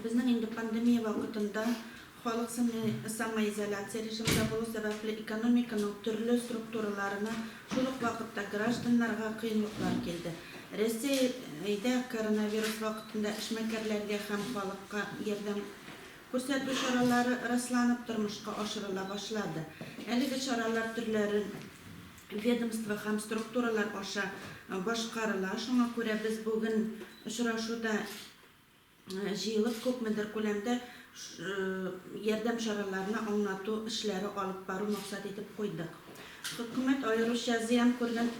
Безнең инде пандемия вакытында халык самоизоляция режимында булу сәбәпле, экономиканың төрле структураларына, шул ук вакытта гражданнарга кыенлыклар килде. Рәсәйдә коронавирус вакытында эшмәкәрләргә һәм халыкка ярдәм күрсәтү чаралары расланып, тормышка ашырыла башлады. Әлеге чаралар төрләре ведомство һәм структуралар аша башкарыла. Шуңа күрә без бүген очрашуда җыелып, күпмедер күләмдә ярдәм чараларына аңлату эшләре алып бару максат итеп куйдык. Хөкүмәт аеруча зыян күргән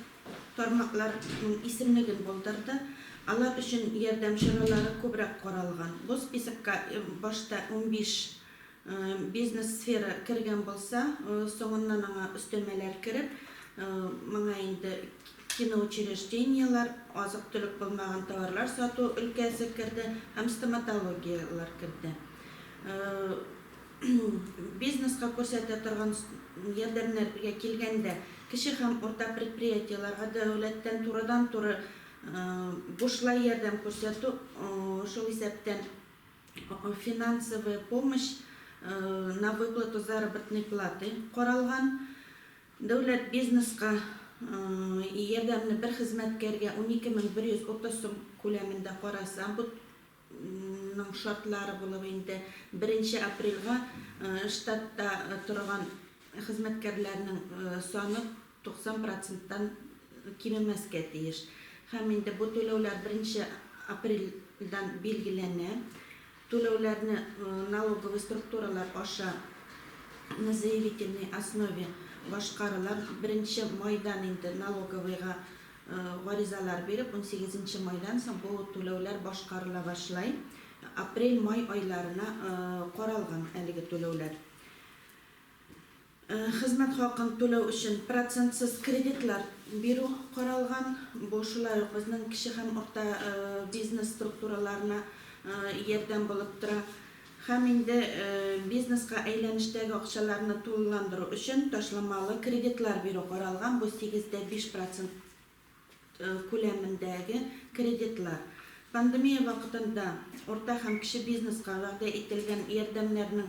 тармакларның исемлеген булдырды. Алар өчен ярдәм чаралары күбрәк каралган. Бу списокка башта унбиш Бизнес-сфера кергән булса, соңыннан аңа өстәмәләр кереп, моңа инде киноучреждениеләр, азык-төлек булмаган товарлар сату өлкәсе керде һәм стоматологияләр керде. Бизнеска күрсәтә торган ярдәмнәргә килгәндә, кече һәм урта предприятиеләргә дәүләттән турыдан-туры бушлай ярдәм күрсәтү, шул исәптән финансовая помощь на выплату заработной платы каралган. Дәүләт бизнеска ярдәмне бер хезмәткәргә 12130 сум күләмендә караса, бу ның шартлары булып инде 1 апрельгә штатта торган хезмәткәрләрнең саны 90 проценттан кимемәскә тиеш. Һәм инде бу түләүләр беренче апрельдән билгеләнә. Түләүләрне налоговый структуралар аша на заявительной основе башкарыла. Беренче майдан инде налоговыйга гаризалар биреп, унсигезенче майдан соң бу түләүләр башкарыла башлай. Апрель-май айларына каралган әлеге түләүләр. Хезмәт хакын түләү өчен процентсыз кредитлар бирү каралган. Бу шулай ук безнең кече һәм урта бизнес структураларына ярдәм булып тора. Һәм инде бизнеска әйләнештәге акчаларны тулыландыру өчен ташламалы кредитлар бирү каралган, бу сигез дә биш процент. күләмендәге кредитлар, пандемия вакытында урта һәм кече бизнеска вәгъдә ителгән ярдәмнәрнең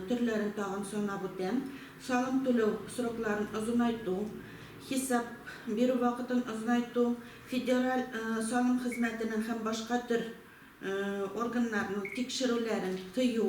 төрләрен тагын санап үтәм, салым түләү срокларын озынайту, хисап бирү вакытын озынайту, федераль салым хезмәтенең һәм башка төр органнарның тикшерүләрен тыю.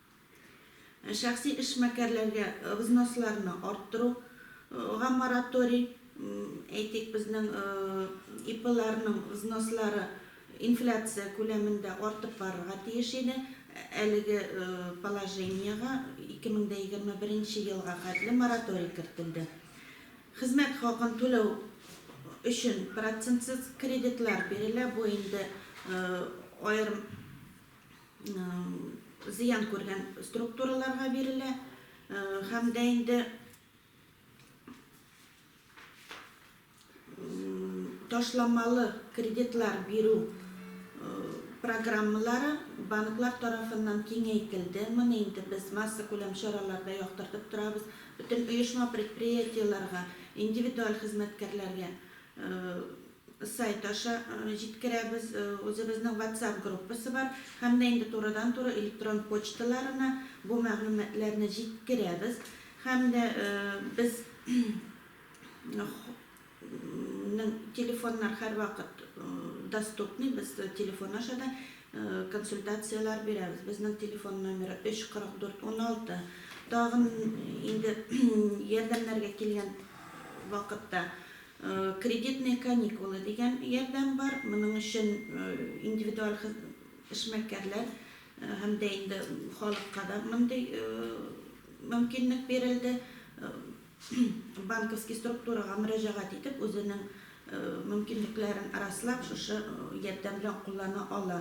Ә шәхси эшмәкәрләргә взносларны арттыру га мораторий, әйтик, безнең ИПларның взнослары инфляция күләмендә артып барырга тиеш иде, әлеге положениегә 2021 нче елга хәтле мораторий кертелде. Хезмәт хакын түләү өчен процентсыз кредитлар бирелә, бу инде аерым зыян күргән структураларга бирелә һәм дә инде ташламалы кредитлар бирү программалары банклар тарафыннан киңәйтелде. Моны инде без массакүләм чараларда яктыртып торабыз. Бөтен оешма-предприятиеләргә, индивидуаль хезмәткәрләргә Сайт аша җиткерәбез. Үзебезнең WhatsApp группасы бар һәм дә инде турыдан-туры электрон почталарына бу мәгълүматларны җиткерәбез һәм дә без нең телефоннар һәрвакыт доступный, без телефон аша да консультацияләр бирәбез. Безнең телефон номеры 34416. Тагын инде ярдәмнәргә килгән вакытта Кредитные каникулы дигән ярдәм бар. Моның өчен индивидуаль эшмәкәрләр һәм дә инде халыкка да мондый мөмкинлек бирелде. Банковский структурага мөрәҗәгать итеп, үзенең мөмкинлекләрен раслап, шушы ярдәм белән куллана ала.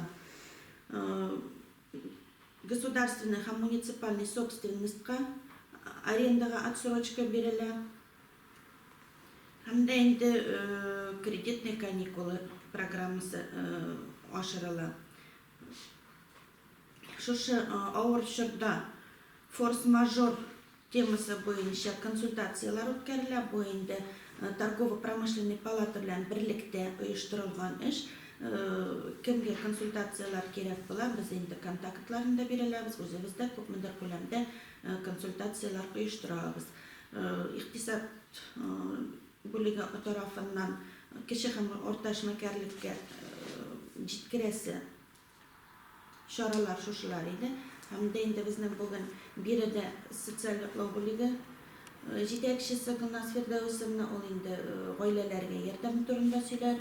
Государственный һәм муниципальный собственностька, арендага отсрочка бирелә. Һәм дә инде кредитный каникулы программасы ашырыла. Шушы авыр чорда форс-мажор темасы буенча консультацияләр үткәрелә. Бу инде торгово-промышленный палата белән берлектә оештырылган эш. Кемгә консультацияләр кирәк була, без инде контактларын да бирәләбез, үзебез дә күпмедер күләмдә консультацияләр оештырабыз. Икътисад бүлеге тарафыннан кече һәм урта эшмәкәрлеккә җиткерәсе чаралар шушылар иде. Һәм дә инде безнең бүген биредә социаль яклау бүлеге җитәкчесе Гөлназ Фирдәүсовна, ул инде гаиләләргә ярдәм турында сөйләр.